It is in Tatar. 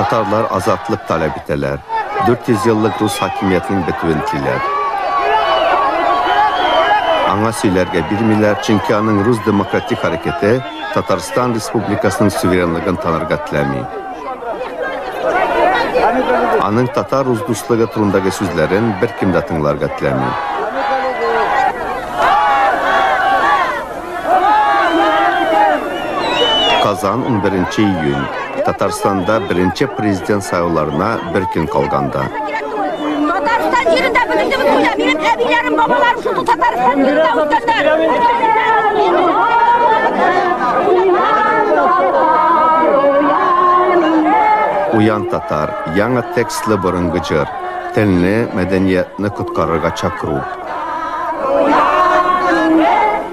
Татарлар азатлык таләп итәләр. 400 еллык рус хакимиятенең бетүен телиләр. Аңа сөйләргә бирмиләр, чөнки аның рус демократик хәрәкәте Татарстан Республикасының суверенлыгын танырга теләми. Аның татар рус дуслыгы турындагы сүзләрен беркем дә тыңларга теләми. Казан 11 июнь Татарстанда беренче президент сайлауларына бер көн калганда. Татарстан җирендә беренче булганда минем әбиләрем, бабаларым шул Татарстан җирендә үткәннәр. Уян татар, яңа текстлы борынгы җыр, телне, мәдәниятны коткарырга чакыру.